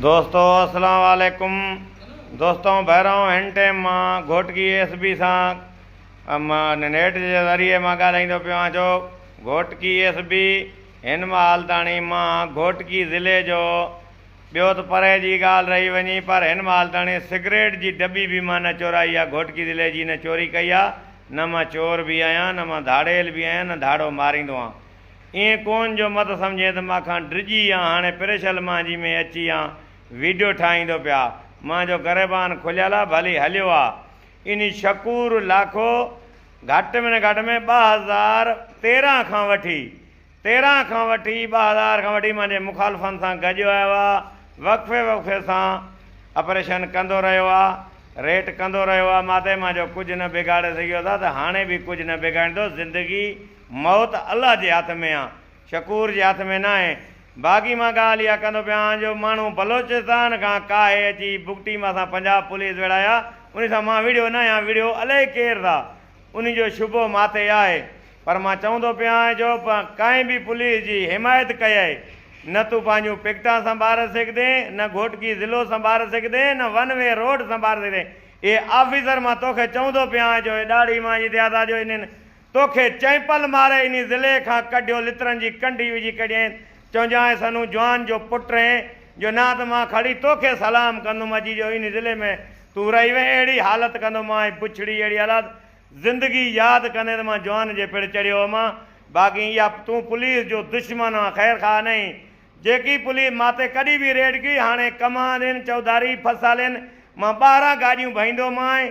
دوستو اسلام عليڪم دوستو بهرائون هن ٽيم مان گهوٽڪي ايس بي سان مان نيٽ جي ذريعي مان ڳالهائيندو پيو آهيان جو گهوٽڪي ايس بي هن مال تاڻي مان گهوٽڪي ضلعي جو ٻيو ته پري جي ڳالهه رهي وڃي پر هن مال تاڻي سگريٽ جي ڊٻي به مان نه چورائي آهي گهوٽڪي ضلعي جي نه چوري ڪئي آهي نه مان چور به آهيان نه مان ڌاڙيل به آهيان نه ڌاڙو ماريندو آهيان ائين ڪونھ جو مت سمجھين ته مان کان ڊڄي يا ھاڻي پريشل مانجھي ۾ اچي يا ويڊيو ٺاھيندو پيا مانجھو گريبان کليل آ ڀلي ھليو آ انھي شڪور لاکو گھٽ ۾ گھٽ ۾ ٻه ھزار تيرنھن کان وٺي تيرنھن کان وٺي ٻه ھزار کان وٺي مانجھي مخالفن سان گڏ آيو آ وقفي وقفي سان اپريشن ڪندو رھيو آ ريٽ ڪندو رھيو آ ماتي مانجھو ڪجھ نه بگاڙي سگھيو ٿا ته ھاڻي به ڪجھ نه بگاڙيندو زندگي موت الله جي هٿ ۾ آ شڪور جي هٿ ۾ ناهي. باقي مان ڳالهه اها ڪندو پيان جو ماڻهو بلوچستان کان ڪاهي اچي بگٽي مان سان پنجاب پوليس ويڙهايا انهي سان مان وڙهيو نه يا وڙهيو الائي ڪير ٿا انهي جو شبهو ماٿي آهي پر مان چوندو پيان جو ڪنهن به پوليس جي حمايت ڪيئي نه تون پنهنجون پڪيٽان سنڀاري سگهدين نه گهوٽڪي ضلعو سنڀاري سگهدين نه ون وي روڊ سنڀاري سگهدين اهي آفيسر مان توکي چوندو پيان جو ڏاڙهي مان جتي آ ٿا جو انهن توکي چئمپل ماري انهي ضلعي کان ڪڍيو لترن جي ڪنڍي وجهي ڪڍيائين چونجانء سنون جوان جو پٽ اهين جو نه ته مان کڙي توکي سلام ڪندوم اجي جو انهي ضلعي ۾ تون رهي وين اهڙي حالت ڪندو مان ۽ بڇڙي اهڙي حالات زندگي ياد ڪندي ته مان جوان جي پڙ چڙهيو هئمان باقي اها تون پوليس جو دشمن آن خير خواهه نهين جيڪي پوليس ماتي ڪڏهن به ريڊ ڪئي هاڻي ڪمانرين چوڌاري ڦسالين مان ٻاهران گاڏيون ڀئيندومانء